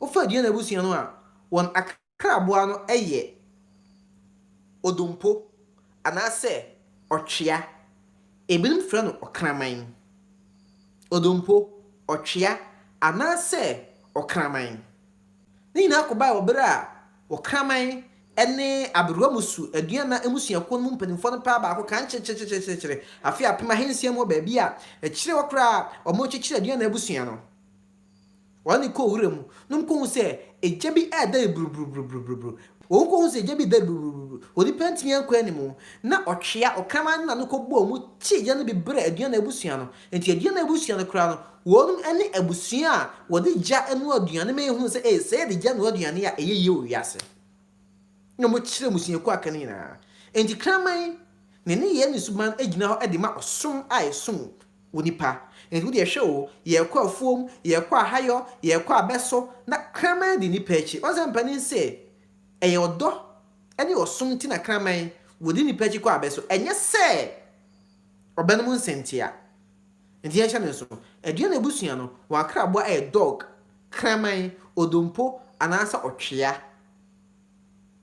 Wofa Aduane abusua no a, wɔn akraboa no yɛ odompo anaasɛ ɔtwea. Ebinom frɛ no ɔkraman. Odompo, ɔtwea, anaasɛ ɔkraman. Ne nyinaa kɔbae wɔ bere a ɔkraman ne aberewa mmusu aduan na mmusuakuw no mu mpanyimfo no paa baako kan kyerekyerekyerekyerekye afe apem ahansia mu wɔ baabi a akyiri hɔ koraa a wɔkyekyere Aduane abusua no. Wɔne kɔ wura mu nom kɔhu sɛ egya bi redɛre buruburuburuburuburubu. Wɔn kɔhu sɛ egya bi redɛre buruburuburubu. Onipa ntumi ankɔ anim. Na ɔtwea, ɔkraman na no kɔ bɔɔ mu kye egya no bi brɛ Aduana abusua no. Enti Aduana abusua no koraa no, wɔnom ne abusua a wɔde egya noa aduane ma yɛhunu sɛ ee, sɛ yɛde egya noa aduane a ɛyɛ yie wɔ wiase. Na wɔkyerɛ mmusuakuo aka no nyinaa. Enti kraman, ne nneyɛɛ ne suban gyina hɔ de ma ɔsom a yɛsom Wo nipa. Enti wo deɛ hwɛ o, yɛɛkɔ afuom, yɛɛkɔ ahayɔ, yɛɛkɔ abɛso, na kraman di nipa akyi. Wahu sɛ mpanin se ɛyɛ ɔdɔ ne ɔsom nti na kraman wɔdi nipa akyi kɔ abɛso, ɛnyɛ sɛ ɔbɛ nom nsa ntia. Enti yɛnhyɛ no nso, aduan na abusua no, wɔn akraboa ɛyɛ dog, kraman, odompo, anaasɛ ɔtwea.